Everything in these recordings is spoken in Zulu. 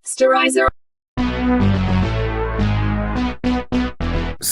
Sterilizer.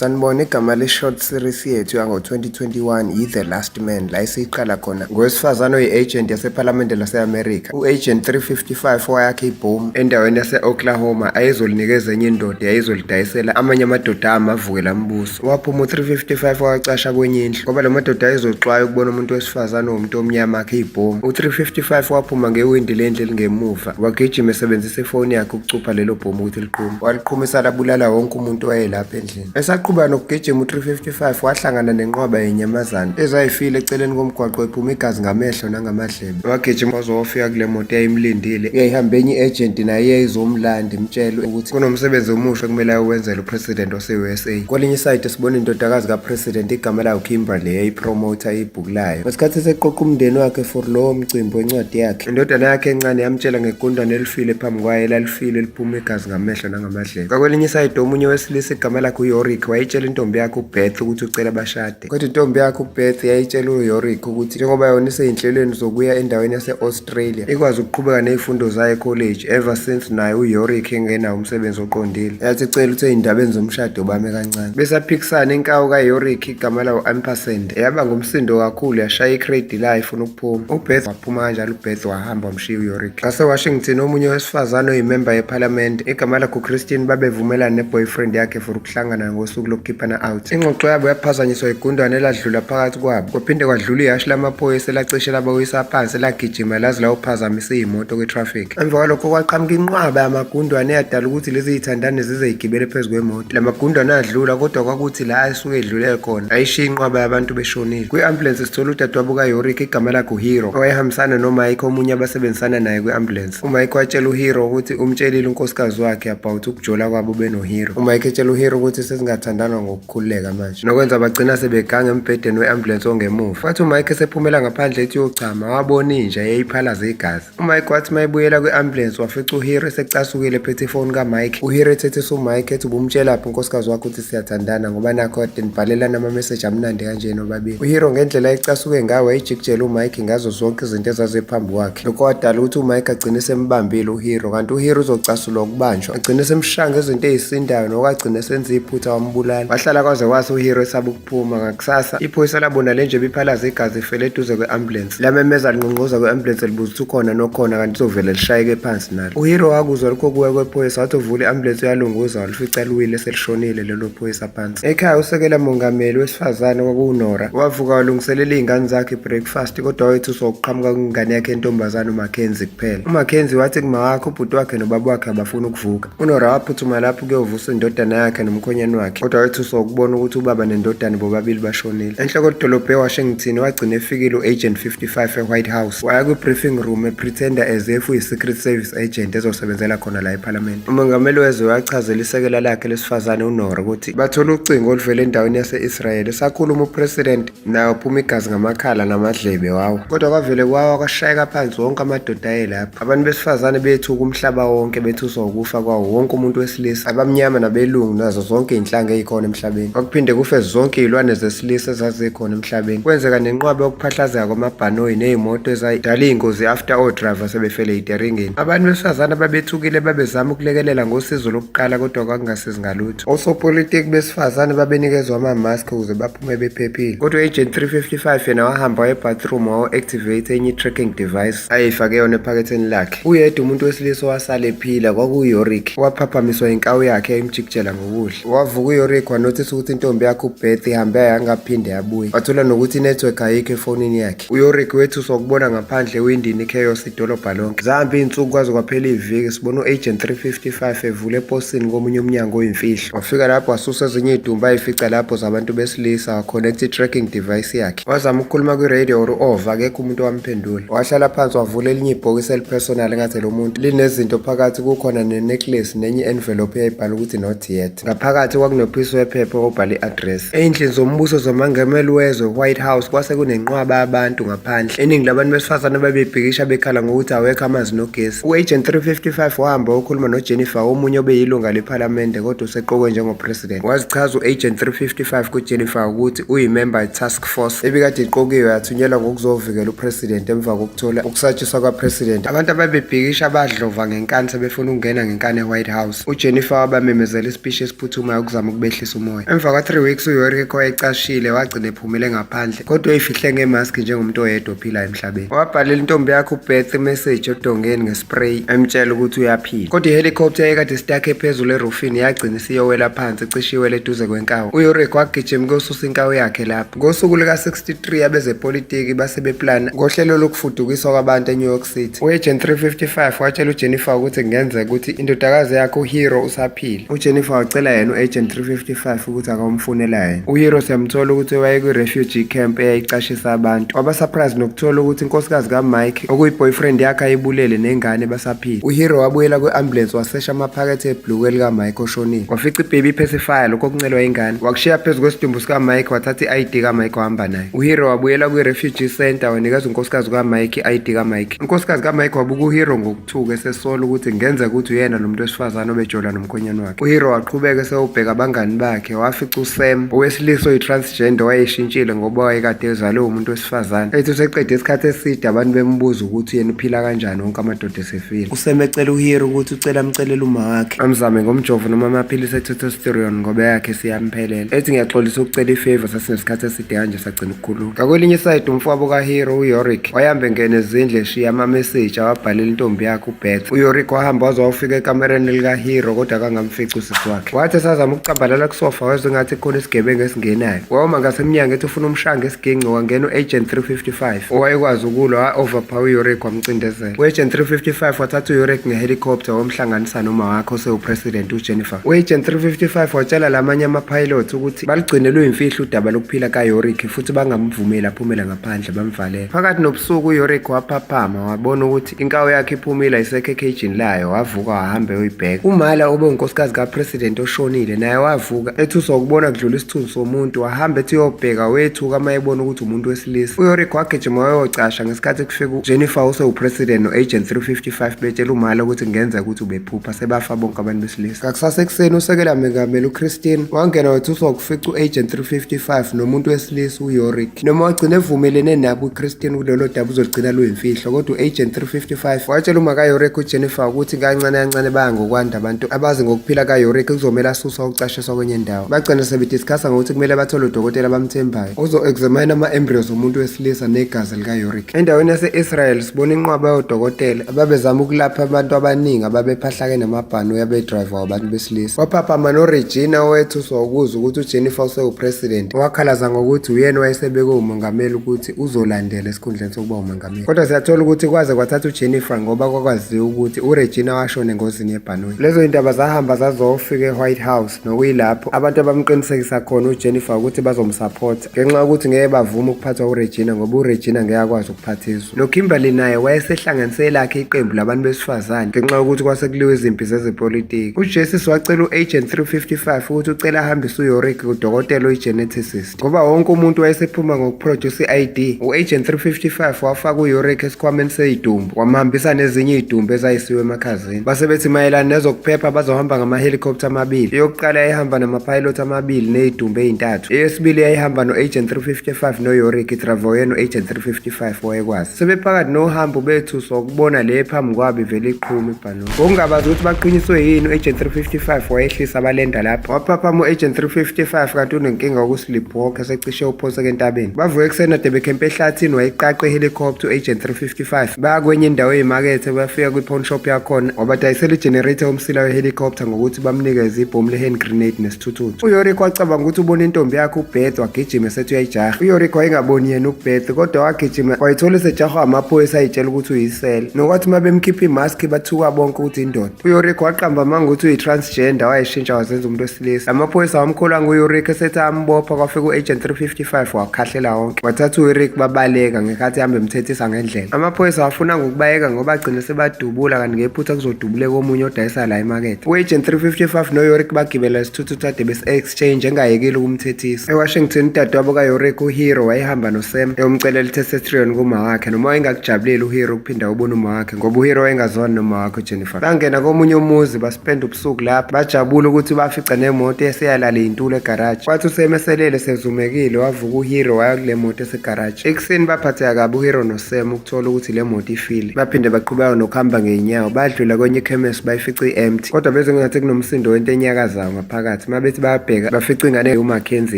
sanibona igama le-short series yethu yango-2021 yi-the last man la esiyiqala khona ngowesifazane oyi-agent yasephalamende lase-amerika u-agent 355 owayakhe ibhomu endaweni yase-oklahoma ayezolinikeza enye indoda yayizolidayisela amanye amadoda amavukela mbuso waphuma u-355 wacasha kwenye indlu ngoba la madoda ayezoxwaya ukubona umuntu wesifazane womuntu omnyama akhe ibhomu u-355 waphuma ngewindi lendlu elingemuva wagijima esebenzisa ifoni yakhe ukucupha lelo bhomu ukuthi liqhume waliqhumisa labulala wonke umuntu wayelapha endlini esaqhubeka nokugijima u-355 wahlangana nenqwaba yenyamazane ezayifile eceleni komgwaqo ephuma igazi ngamehlo nangamadla wagijima wazowafika kule moto eyayimlindile uyayihambe enye i-agent naye yayizomlanda imtshele ukuthi kunomsebenzi omusha kumele ayowenzela upresident wase-usa kwelinye isayide sibona indodakazi kapresident igama layo kimberley yayipromotha ibhuku layo ngesikhathi eseqoqa umndeni wakhe for lowo mcimbi wencwadi yakhe indodana yakhe encane yamtshela ngegundane elifile phambi kwayo elalifile liphuma igazi ngamehlo nangamadlebe kwakwelinye isayide omunye wesilisa igama lakhe uyorick wayitshela intombi yakhe ubeth ukuthi ucela bashade umakoti. Kodwa intombi yakhe uBeth yayitshela uYorick ukuthi njengoba yona iseyinhlelweni zokuya endaweni yase-Australia, ikwazi ukuqhubeka nezifundo zayo ekholeji ever since naye uYorick engenawo umsebenzi oqondile. Yathi icela ukuthi ey'ndabeni zomshado bame kancane. Besaphikisana inkawu kaYorick igama lawo Ampersand, eyaba ngumsindo kakhulu yashaya i-crate layo ifuna ukuphuma. UBeth waphuma kanjalo uBeth wahamba Shiw Yorick. WaseWashington omunye wesifazane oyimemba yePhalamende igama lakhe uChristine babevumelana neboyfriend yakhe for ukuhlangana ngosuku lokukhiphana out. Ingxoxo yabo yaphazanyiswa igundwane eladlula phakathi kwabo. Kwaphinde kwadlula ihashi lamaphoyisa elacishe labawisa phansi lagijima laze lawuphazamisa iyimoto kwitraffic. Emva kwalokho kwaqhamuka inqwaba yamagundwane eyadala ukuthi lezi zithandane zize igibele phezu kwemoto. La magundane adlula kodwa kwakuthi la asuke edlule khona ayishiya inqwaba yabantu beshonile. Kwi-ambulensi sithola udadewabo kaYorick igama lakhe uHero owayehambisana noMike omunye abasebenzisana naye kwi-ambulensi. UMike watshela uHero ukuthi umtshelile unkosikazi wakhe about ukujola kwabo benoHero. UMike etshela uHero ukuthi sezingathandana ngokukhululeka manje nokwenza bagcina sebeganga embhedeni we-ambulensi ongemuva. Kwathi uMike esephumela ngaphandle ethi uyochama wabona inja yayiphalaza igazi. UMike wathi uma ebuyela kwi-ambulensi wafica uHiri esecasukile ephethe ifoni kaMike. UHiri ethethisa uMike ethi ubumtshelaphi unkosikazi wakho ukuthi siyathandana ngoba nakho kade nibhalelana amameseji amnandi kanje nobabili. UHiri ngendlela ayecasuke ngayo wayejikijela uMike ngazo zonke izinto ezaziphambi kwakhe. Lokho kwadala ukuthi uMike agcine esembambile uHiri kanti uHiri uzocasulwa ukubanjwa. Agcine esemshanga izinto ezisindayo nokagcine esenza iphutha wambulala. Wahlala kwaze kwasa uHiri esaba Phuma ngakusasa iphoyisa labona le nje biphalaza igazi ifele eduze kwe-ambulensi lamemeza linqonqoza kwe-ambulensi libuza ukuthi ukhona nokhona kanti izovele lishayeke phansi nalo uhiro wakuzwa lokho kuwe kwephoyisa wathi uvula i-ambulensi uyalunguza walifica liwile selishonile lelo phoyisa phansi ekhaya usekela mongameli wesifazane kwakuwunora wavuka walungiselela iy'ngane zakhe i-breakfast kodwa wayethuswa ukuqhamuka kwengane yakhe entombazane umakenzi kuphela umakenzi wathi kumawakhe ubhuti wakhe nobaba wakhe abafuni ukuvuka UNora waphuthuma lapho kuyovusa indodana yakhe nomkhonyane wakhe kodwa wethuswa ukubona ukuthi ubaba nendodana bobabili bashonile. Enhloko dolobha eWashington wagcina efikile u-Agent 55 e-White House waya kwi-briefing room epretender as if uyi-Secret Service agent ezosebenzela khona la ePhalamende. Umongameli wezwe wachazela isekela lakhe lesifazane uNora ukuthi bathole ucingo oluvela endaweni yase-Israel esakhuluma uPresident nayo phuma igazi ngamakhala namadlebe wawo kodwa kwavele kwawa kwashayeka phansi wonke amadoda ayelapha abantu besifazane bethuka umhlaba wonke bethuswa ukufa kwawo wonke umuntu wesilisa abamnyama nabelungu nazo zonke izinhlanga ezikhona emhlabeni kwakuphinde kufe zonke izilwane zesilisa ezazikhona emhlabeni kwenzeka nenqwabe yokuphahlazeka kwamabhanoyi nezimoto ezayidala izingozi after all driver sebefele iteringini abantu besifazane babethukile babezama ukulekelela ngosizo lokuqala kodwa kwakungasizi ngalutho osopolitiki besifazane babenikezwa ama-mask ukuze bephephile kodwa agent 355 yena wahamba ebathroom wawo-activate enye i-tracking device ayeyifake yona ephaketheni lakhe uyedwa umuntu wesilisa owasala ephila kwakuyorick waphaphamiswa inkawu yakhe imjikijela ngokudla wavuka uyorick wanothisa ukuthi intombi yakhe ubeth ihambe yangaphinde yabuye wathola nokuthi inetwork ayikho efonini yakhe uyorick wethuswa ukubona ngaphandle ewindini ichaos idolobha lonke. Zihamba iy'nsuku kwaze kwaphela iviki sibona u-agent 355 evula eposini komunye umnyango oyimfihlo. Wafika lapho wasusa ezinye iy'dumba ayifica lapho zabantu besilisa waconnect i-tracking device yakhe. Wazama ukukhuluma kwi-radio or u-ova akekho umuntu owamphendula. Wahlala phansi wavula elinye ibhokisi elipersonal engathi lo muntu linezinto phakathi kukhona ne-necklace nenye i-envelope eyayibhala ukuthi not yet. Ngaphakathi kwakunophisi wephepha obhala i-address. Ey'ndlini zombuso zomangameli wezwe, White House, kwase kunenqwaba yabantu ngaphandle. Iningi labantu besifazane babebhikisha bekhala ngokuthi awekho amanzi nogesi. U-Agent 355 wahamba wayokhuluma noJennifer, omunye obeyilunga lephalamende kodwa useqokwe njengopresident. Wazichaza u-Agent 355 kuJennifer ukuthi uyimemba ye-task force ebikade iqokiwe yathunyelwa ngokuzovikela upresident emva kokuthola ukusatshiswa kwapresident. Abantu ababebhikisha badlova ngenkani sebefuna ukungena ngenkani e-White House. uJennifer wabamemezela isipishi esiphuthumayo ukuzama ukubehlisa umoya. Emva kwa-3 weeks uYoriko ecashile wagcina ephumele ngaphandle kodwa eyifihle ngemaski njengomuntu oyedwa ophila emhlabeni. Wabhalela intombi yakhe uBeth imeseji odongeni ngespray emtshela ukuthi uyaphila. Kodwa ihelicopter eyekade sitakhe phezulu erufini yagcina isiyowela phansi cishe iwele eduze kwenkawu. UYoriko wagijima ukuyosusa inkawu yakhe lapho. Ngosuku luka-63 abezepolitiki base beplana ngohlelo lokufudukiswa kwabantu eNew York City. U-Agent 355 watshela uJennifer ukuthi kungenzeka ukuthi indodakazi yakhe uHero usaphila. UJennifer wacela yena u-Agent 355 ukuthi akawumfunela yena. UHero siyamthola ukuthi wayekwi-refugee camp eyayicashisa abantu. Waba surprise nokuthola ukuthi inkosikazi kaMike okuyiboyfriend yakhe ayibulele nengane basaphila uhero wabuyela kwi-ambulance wasesha amaphakethe ebhluku elikamike oshonile wafica ibhebi iphesifaya lokho okuncelwa ingane wakushiya phezu kwesidumbu sikamike wathatha i-id kamike wahamba naye uhero wabuyela kwi-refugee center wanikeza unkosikazi kukamike i-id kamike unkosikazi kamike wabuka uhero ngokuthuka esesola ukuthi ngenzeka ukuthi uyena lo muntu wesifazane obejola nomkhonyana wakhe uhero waqhubeka esewubheka abangani bakhe wafica usam owesilisa oyi-trans Gender wayeshintshile ngoba wayekade ezalwe umuntu wesifazane. Ethi useqede isikhathi eside abantu bembuza ukuthi yena uphila kanjani wonke amadoda esefile. Useme ecela uHero ukuthi ucela amcelele uma wakhe. Amzame ngomjovo noma amaphilisi etestosterone ngoba yakhe siyamphelela. Ethi ngiyaxolisa ukucela ifavor sasinesikhathi eside kanje sagcina ukukhuluma. Ngakwelinye isayidi umfowabo kaHero uYorick wayahambe ngene ezindle eshiya amameseji awabhalela intombi yakhe uBeth. UYorick wahamba waze wawufika ekamereni likaHero kodwa akangamfici usisi wakhe. Wathi esazama ukucambalala kusofa wezwe ngathi khona isigebengu esingenayo. Wawuma ngasemnyango ethi ufuna umshange esigingci wangena u-agent 355 owayekwazi ukulwa wa-overpower uyurek wamcindezela. U-agent 355 wathatha uyurek ngehelicopter wamhlanganisa noma wakhe osewupresident ujennifer. U-agent 355 watshela la manye amapilot ukuthi balugcine luyimfihlo udaba lokuphila kayurek futhi bangamvumeli aphumele ngaphandle bamvalele. Phakathi nobusuku uyurek waphaphama wabona ukuthi Inkawu yakhe iphumile ayisekho ekhejini layo wavuka wahambe uyibheka. Umala obe unkosikazi kaPresident oshonile naye wavuka ethuswa ukubona kudlula isithunzi somuntu wahamba ethi uyobheka wethuka uma ebona ukuthi umuntu wesilisa. UYorick wagijima wayocasha ngesikhathi kufika uJennifer osewuPresident no-Agent 355 betshela umala ukuthi kungenzeka ukuthi ubephupha sebafa bonke abantu besilisa. Ngakusasa ekuseni usekela mengameli uChristine wangena wethuswa ukufica u-Agent 355 nomuntu wesilisa uYorick. noma wagcina evumelene nabo uChristian kulolo daba uzolugcina luyimfihlo kodwa u-agent 355 watshela uma kayorek ujennifer ukuthi kancane kancane baya ngokwanda abantu abazi ngokuphila kayorek kuzomele asuswa ukucashiswa kwenye ndawo bagcina sebediskasa ngokuthi kumele bathole udokotela abamthembayo uzo-examine ama-embryos omuntu wesilisa negazi likayorek endaweni yase-israel sibona inqwaba yodokotela ababezama ukulapha abantu abaningi ababephahlake namabhani uyabedrayiva wabantu besilisa kwaphaphama noregina owethu sokuzwa ukuthi ujennifer usewupresident owakhalaza ngokuthi uyena wayesebeke umongameli ukuthi uzolandela esikhundleni sokuba umongameli kodwa siyathola ukuthi kwaze kwathatha ujennifer ngoba kwakwaziwa ukuthi uregina washona engozini yebhanoyi lezo yindaba zahamba zazofika e-white house nokuyilapho abantu abamqinisekisa khona ujennifer ukuthi bazomsupport ngenxa yokuthi ngeke bavume ukuphathwa uRegina ngoba uRegina ngeke akwazi ukuphatha izwe noKimberly naye wayesehlanganise elakhe iqembu labantu besifazane ngenxa yokuthi kwasekuliwa izimpi zezepolitiki uJesus wacela u-agent 355 ukuthi ucela ahambise uYorick kudokotela oyi-geneticist ngoba wonke umuntu wayesephuma ngokuproduce i-id u-agent 355 wafaka uYorick esikhwameni seyidumbu wamhambisa nezinye idumbu ezayisiwe emakhazeni emsebenzini. Base bethi mayelana nezokuphepha bazohamba ngama-helicopter amabili. Eyokuqala yayihamba nama-pilot amabili ney'dumbu ey'ntathu. Eyesibili yayihamba no-agent 355 noyorik idravoye no-agent 355 wayekwazi. Sebephakathi nohambo bethu sokubona le phambi kwabo ivele iqhuma ibhanoyi. Ngokungabazi ukuthi baqiniswe yini u-agent 355 wayehlisa balenda lapho. Waphaphama u-agent 355 kanti unenkinga yokusiliphoka. osecishe uphonseke entabeni bavuke ekuseni ade bekhempe ehlathini wayiqaqa ihelicopter u-agent 355 baya kwenye indawo eyimakethe bayafika kwi-pawn shop yakhona wabadayisela igenerator umsila wehelicopter ngokuthi bamnikeze ibhomu le-hand grenade nesithuthuthu uyorik wacabanga ukuthi ubona intombi yakhe ubeth wagijima esethi uyayijaha uyorik wayengaboni yena ubeth kodwa wagijima wayithola esejahwa amaphoyisa ayitshela ukuthi uyisele nokwathi uma bemkhipha imaski bathuka bonke ukuthi indoda uyorik waqamba amanga ukuthi uyi-transgender wayishintsha wazenza umuntu lesi amaphoyisa wamkholwa ngueric esethi ambopha kwafika u-agent 355 wakhahlela wonke wathatha ueric babaleka ngekhathi hambe emthethisa ngendlela amaphoyisa wafuna ngokubayeka ngoba agcine sebadubula kanti ngephutha kuzodubuleka omunye odayisa la emakethe u-agent 355 noyoric bagibela isithuthuthu ade besi-exchange engayekile ukumthethisa ewashington udadewabo kayoric uhero wayehamba nosam ewumcelela itesetrion kuma wakhe noma wayengakujabuleli uhero ukuphinda ubona uma wakhe ngoba uhero wayengazwani noma wakho jennifer bangena komunye umuzi baspenda ubusuku lapho bajabula ukuthi bafica nemoto eseyalala iyintula egaraji kwathi usemeselele sezumekile wavuka uhero waya kule moto esegaraji ekuseni baphatheka kabi uhero nosem ukuthola ukuthi le moto ifile baphinde baqhubeka nokuhamba ngey'nyawo badlula kwenye ikhemesi bayifica i-empty kodwa bezengathi kunomsindo wento enyakazayo phakathi uma bethi bayabheka bafica ingane uMackenzie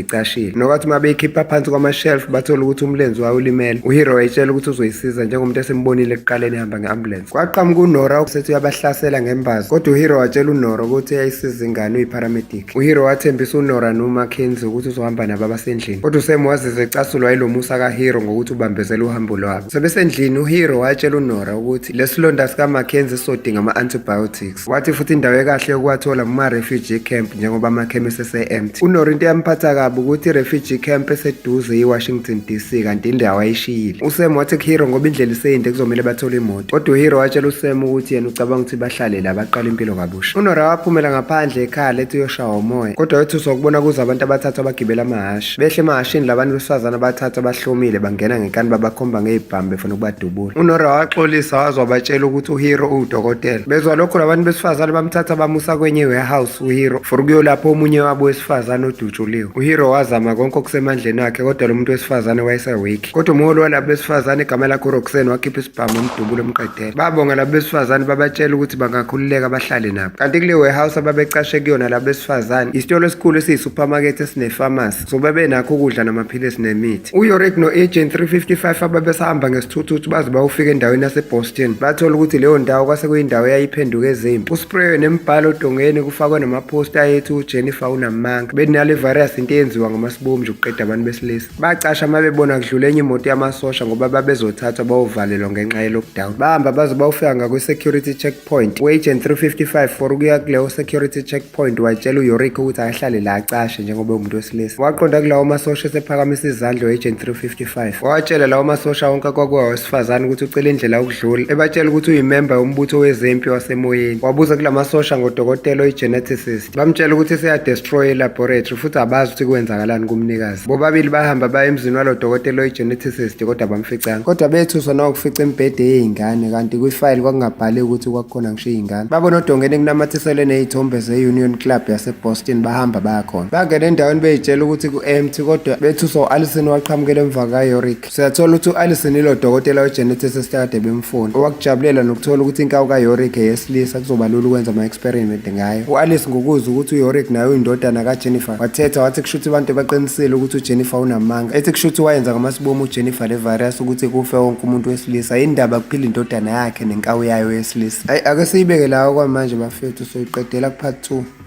icashile nokwathi uma beyikhipha phansi kwamashelf bathola ukuthi umlenzi wayo ulimele uhero wayitshela ukuthi uzoyisiza njengomuntu esimbonile ekuqaleni ehamba nge-ambulensi kwaqhamuka unora usethi uyabahlasela ngembazo kodwa uhero watshela unora ukuthi uyayisiza ingane uyiparamedic uhero wathembisa unora noMackenzie ukuthi uzohamba nabo abasendlini kodwa usem wazizwa ecasulwa yilo musa kahero ngokuthi ubambezela uhambo lwabo sebesendlini uhero watshela unora ukuthi lesilonda sikamackenzie sizodinga ama-antibiotics Wathi futhi indawo ekahle yokuwathola kuma-refugee camp njengoba amakhemisi ese-empty. UNoro into eyamphatha kabi ukuthi i-refugee camp eseduze yi-Washington DC kanti indawo ayishiyile. USam wathi kuHero ngoba indlela iseyinde kuzomele bathole imoto. Kodwa uHero watshela uSam ukuthi yena ucabanga ukuthi bahlale la baqale impilo kabusha. UNora waphumela ngaphandle ekhala ethi uyoshawa umoya. Kodwa wethuswa ukubona kuza abantu abathathu abagibela amahhashi. Behle emahashini labantu besifazane abathatha bahlomile bangena ngenkani babakhomba ngezibhamu befuna ukubadubula. UNora waxolisa waze wabatshela ukuthi uHero uwudokotela. Bezwa lokho labantu besifazane bamthatha bamusa kwenye warehouse uHero for ukuyolapha omunye wabo wesifazane odutshuliwe. UHero wazama konke okusemandleni akhe kodwa lo muntu wesifazane wayeseweak. Kodwa umholi walabo besifazane igama lakhe uRoxanne wakhipha isibhamu umdubulo emqedela. Babonga labo besifazane babatshela ukuthi bangakhululeka bahlale nabo. Kanti kule warehouse ababecashe kuyona labo besifazane isitolo esikhulu esiyi-supermarket esine-pharmacy so babenakho ukudla namaphilisi nemithi. UYorick no-Agent 355 ababesahamba ngesithuthuthu baze bawufika endaweni yase-Boston bathola ukuthi leyo ndawo kwase kuyindawo eyayiphenduke ezimpi. Kuspreywe nemibhalo odongeni kufakwe namaphosta ayethi uJennifer unamanga. Benale virus into eyenziwa ngamasibomu nje ukuqeda abantu besilisa. Bacasha uma bebona kudlula enye imoto yamasosha ngoba babezothathwa bayovalelwa ngenxa ye-lockdown. Bahamba baze bawufika ngakwi-security checkpoint. U-agent 355 for ukuya kuleyo security checkpoint watshela uYorick ukuthi akahlale la acashe njengoba umuntu wesilisa. Waqonda kulawo masosha esephakamisa izandla u-agent 355. Wawatshela lawo masosha wonke akwakuwa wesifazane ukuthi ucela indlela yokudlula. Ebatshela ukuthi uyimemba yombutho wezempi wasemoyeni. Wabuza kula masosha ngodokotela oyi-geneticist. bamtshela ukuthi seyadestroye ilaboratory futhi abazi ukuthi kwenzakalani kumnikazi bobabili bahamba baye emzini walo dokotela oyi-geneticist kodwa bamficanga kodwa bethuswa nokufica imibhede yey'ngane kanti kwifayili kwakungabhali ukuthi kwakukhona ngisho iy'ngane babona odongeni kunamathiselwe ney'thombe ze-union club yaseboston bahamba bayakhona bangena endaweni beyitshela ukuthi ku-empty kodwa bethuswa u-alison waqhamukela emva kayorick Siyathola ukuthi u-Alisson ilo dokotela weGenesis esikade bemfuna, owakujabulela nokuthola ukuthi inkawu kaYorick eyesilisa kuzoba lula ukwenza ama-experiment ngayo. U-Alice ngokuzwa ukuthi uYorick naye uyindodana kaJennifer, wathetha wathi kushuthi abantu baqinisile ukuthi uJennifer unamanga, ethi kushuthi wayenza ngamasibomu uJennifer le virus ukuthi kufe wonke umuntu wesilisa, yindaba kuphila indodana yakhe nenkawu yayo yesilisa. Ayi ake siyibeke lawo kwamanje bafethu, soyiqedela kuphathi 2.